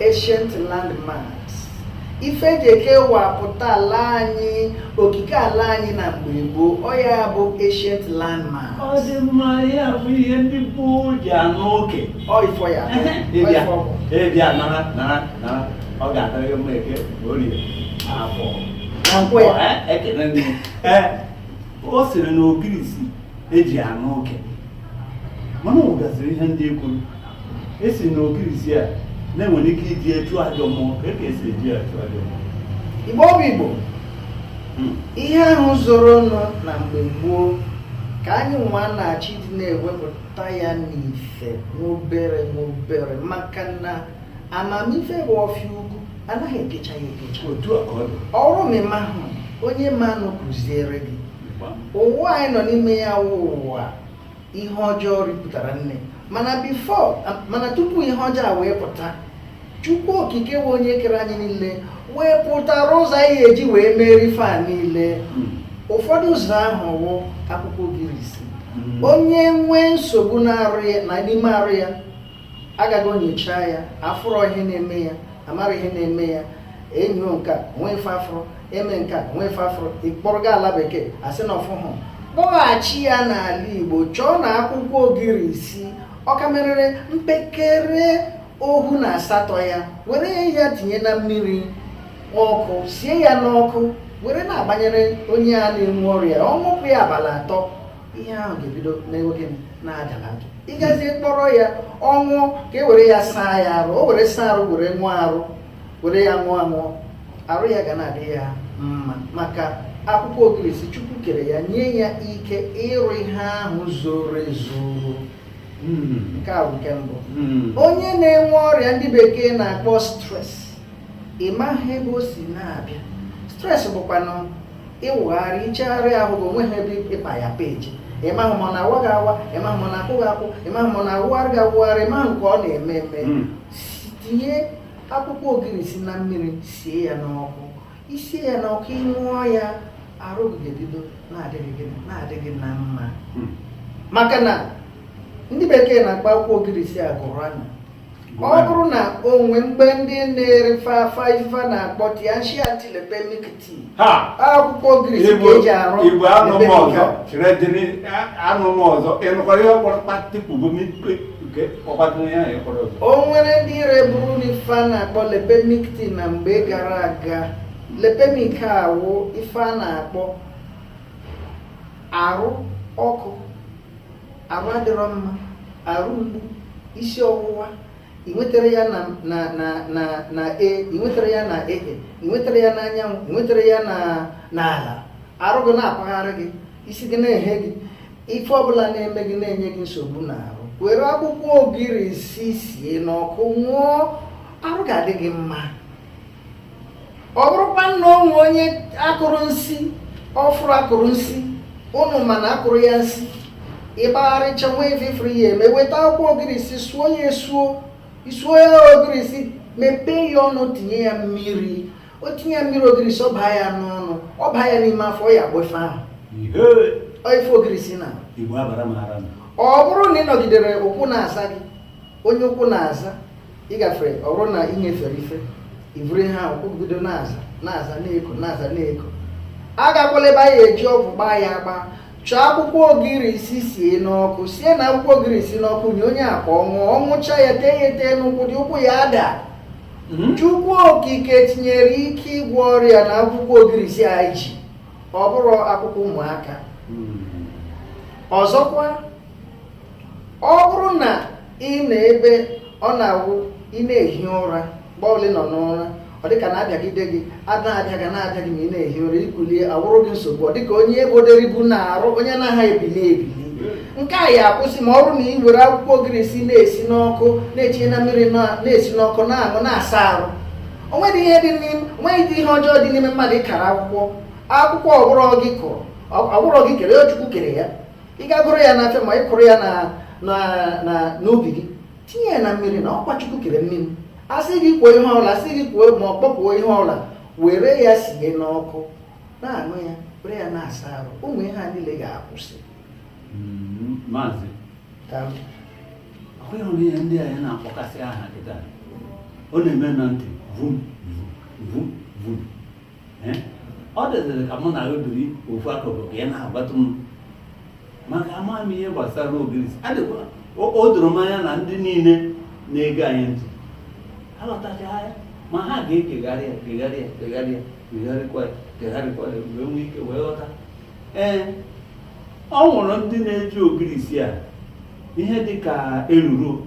ancient landmarks ife eji ekewapụta ala anyị okike ala anyị na mgbe gboo ọ ya bụ ancient landmarks ọ dị mma ya bụ ihe ndị gboo ji anụ oke ọ ifọ ya bụ, ọ ịbịa ifọ bụ. ịbịa nara nara nara ọ ga-adịrị gị mma eke ma orie afọ na nkwọ ya Eh, ekele nne Eh, ọ sịrị na ogirisi eji anụ oke mana ọ gasịrị ihe ndị ekwuru esi na ogirisi a na-enwere ike iji achụ ajọ mmụọ ka e ka esi eji achụ ajọ mmụọ igbo bụ igbo Hmm. ihe ahụ zoro nọ na mgbe gboo ka anyị nwa na-achọ ịdị na-ewepụta ya n'ife n'obere n'obere maka na amamife bụ ọfịa ugwu anaghị ekecha ya ekecha otu a ka ọ dị ọrụ ma ịmahụ onye ma nụ kuziere gị Gbam. ụwa anyị nọ n'ime ya wụ ụwa ihe ọjọọ ripụtara nne mana before mana tupu ihe ọjọọ a wee pụta chukwu okike wụ onye kere anyị niile wepụtara ụzọ anyị eji wee merie fa niile hmm. ụfọdụ ụzọ ahụ wụ akwụkwọ ogirisi hmm. onye nwee nsogbu n'arụ ya na n'ime arụ ya agaa ga nyochaa ya afụrọ ihe na-eme ya amarọ ihe na-eme ya enyo nke a nwee ife afụrụ eme nke a nwee ife afụrụ ịkpọrọ gaa ala bekee asị na ọfụhụ kpọghachi ya n'ala igbo chọọ na akwụkwọ ogirisi ọkamerere mpekere ohu na asatọ ya were ya tinye na mmiri ọkụ sie ya n'ọkụ were na-agbanyere onye a na-enwe ọrịa ọ ṅụpụ ya abalị atọ ihe ahụ ga-ebido mewe gịnị na-adalata ịgazie kpọrọ ya ọ wụ ka e were ya saa ya arụ o were saa arụ were wụọ arụ were ya ṅụọ aṅụọ arụ ya ga na-adị ya mma maka akwụkwọ ogirisi chukwu kere ya nye ya ike ịrụ ihe ahụ zoro ezo hmm. nke a bụ nke mbụ hmm. onye na-enwe ọrịa ndị bekee na-akpọ stress ị maghị ebe o si na-abịa stress bụkwanụ ịwụgharị ichegharị ahụ gị onweghị ebe ịkpa ya page ịmahụ ma ọ na-awa gị awa ịmahụ ma ọ na-akwụ gị akwụ ịmahụ ma ọ na-awụgharị gị awụgharị ịmahụ nke ọ na-eme eme Mm. Si- tinye akwụkwọ ogirisi na mmiri sie ya n'ọkụ isie ya n'ọkụ ịṅụọ ya arụ gị ga-ebido na-adị gị na mma Mm. maka na ndị bekee na-akpọ akwụkwọ ogirisi agụrụ anya ọ bụrụ na o nwe mgbe ndị na-ere fafa ife na-akpọ tianshi antilipemic tea akwụkwọ ogirisi ka eji arụ igbo anụ m ọzọ redịrị anụ m ọzọ ịnụkwara ihe ọkpọrọ kpatịpụgo o nwere ndị reburu na ife a na-akpọ lipemic tea na mgbe gara aga lipemic a wụ ife a na-akpọ arụ ọkụ arụ adịrọ mma arụ mgbu isi ọwụwa i nwetara ya na na na na na e i nwetara ya na e e i nwetara ya n'anyanwụ i nwetara ya na n'ala arụ gị na-akpagharị gị isi gị na-ehe gị ife ọbụla na-eme gị na-enye gị nsogbu n'arụ were akwụkwọ ogirisi sie n'ọkụ ṅụọ arụ ga-adị gị mma ọ bụrụkwa na o nwee onye a kụrụ nsị ọ bụrụ a kụrụ nsị ụnụ ma na a kụrụ ya nsị ị gbagharịcha nwa ife i furu ya eme weta akwụkwọ ogirisi suo ya esuo i suo ya ogirisi mepee ya ọnụ tinye ya mmiri o tinye ya mmiri ogirisi ọ baa ya n'ọnụ ọ baa ya n'ime afọ ya agbọ ife ahụ ife ogirisi na ọ bụrụ na ị nọgidere ụkwụ na-aza gị onye ụkwụ na-aza ị gafere ọ bụrụ na ị nyefere ife i buru ihe ahụ ụkwụ bido na-aza na-aza na-eko na-aza na-eko agakwala ebe a ya-eji ọgwụ gbaa ya agba chọọ akwụkwọ ogirisi sie n'ọkụ sie na akwụkwọ ogirisi n'ọkụ nye onye a ka ọ ṅụọ ọ ṅụcha ya tee ya etee n'ụkwụ dị ụkwụ ya ada Mhm. chukwu okike tinyere ike ịgwọ ọrịa na akwụkwọ ogirisi anyị ji ọ bụrụ akwụkwọ ụmụaka Mm. ọzọkwa ọ bụrụ na ị na ebe ọ na-awụ ị na-ehi ụra mgbe ọbụla ị nọ n'ụra ọ dịka a na-abịagide gị a na-abịa gị a na-abịa gị ma ị na-ehi ụra i kulie awụrụ gị nsogbu ọ dịka onye e bodere ibu n'arụ onye na-aha ebili ebili nke a ya akwụsị ma ọ bụrụ na ị were akwụkwọ ogirisi na-esi n'ọkụ na-etinye na mmiri na- na-esi n'ọkụ na-aṅụ na-asa arụ o nweghị ihe dị n'ime o nweghị ihe ọjọọ dị n'ime mmadụ kara akwụkwọ akwụkwọ ọ bụrọ gị kụrụ ọ- ọ bụrọ gị kere ya chukwu kere ya ị gaa goro ya n'afịa ma ị kụrụ ya n'ubi gị tinye ya na mmiri na ọkwa chukwu kere mmiri asịghị kwuo ihe ọbụla asịghị kwuo ma ọ kpọkuo ihe ọbụla were ya sie n'ọkụ na-aṅụ ya were ya na-asa arụ ụmụ ihe a niile ga-akwụsị hmm, maazị ọkwa ị hụrụ ihe ndị anyị na-akpọkasị aha kịta ọ na-eme na ntị vum vum vum Eh? ọ dịzịrị ka mụ na gị biri ofu akụkụ ka ị na-agbatụ m maka ama m ihe gbasara ogirisi adịkwa o- o doro m anya na ndị niile na-ege anyị ntị aghọtacha ya ma ha ga-egegharị ya gegharị ya gegharị ya gegharịkwa ya gegharịkwa ya wee nwee ike wee ghọta ee o nwere ndị na-eji ogirisi a ihe dị ka eruru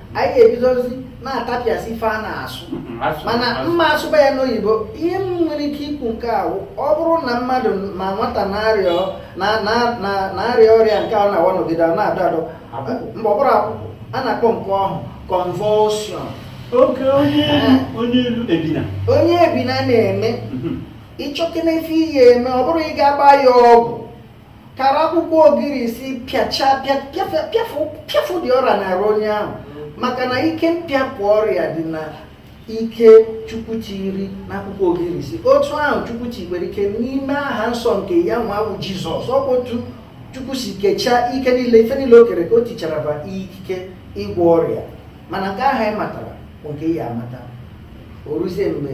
anyị ebidozi na-atapịasị ife a na-asụ mana m ma asụba ya n'oyibo ihe m nwere ike ikwu nke ahụ ọ bụrụ na mmadụ ma nwata na-arịa ọrịa nke ahụ nwa nọgide a na-adọ adọ mgbe ọ bụrụ akwụkwụ a na-akpọ nke ahụ convulsion oke onye elu ebina onye ebina na-eme mhm. ị chọkena ife ị ya-eme ọ bụrụ ị ga-agba ya ọgwụ kara akwụkwọ ogirisi pịacha pịafụ ụdị ọrịa na-arụ onye ahụ maka na ike mpịapụ ọrịa dị na ike chukwu tiri n'akwụkwọ ogirisi otu ahụ chukwu tikwere ike n'ime aha nsọ nke ya nwa bụ jizọs ọ bụ otu chukwu si kechaa ike niile ife niile o kere ka o tichara ba ikike ịgwọ ọrịa mana nke ahụ anyị matara bụ nke ya amata o ruzie mgbe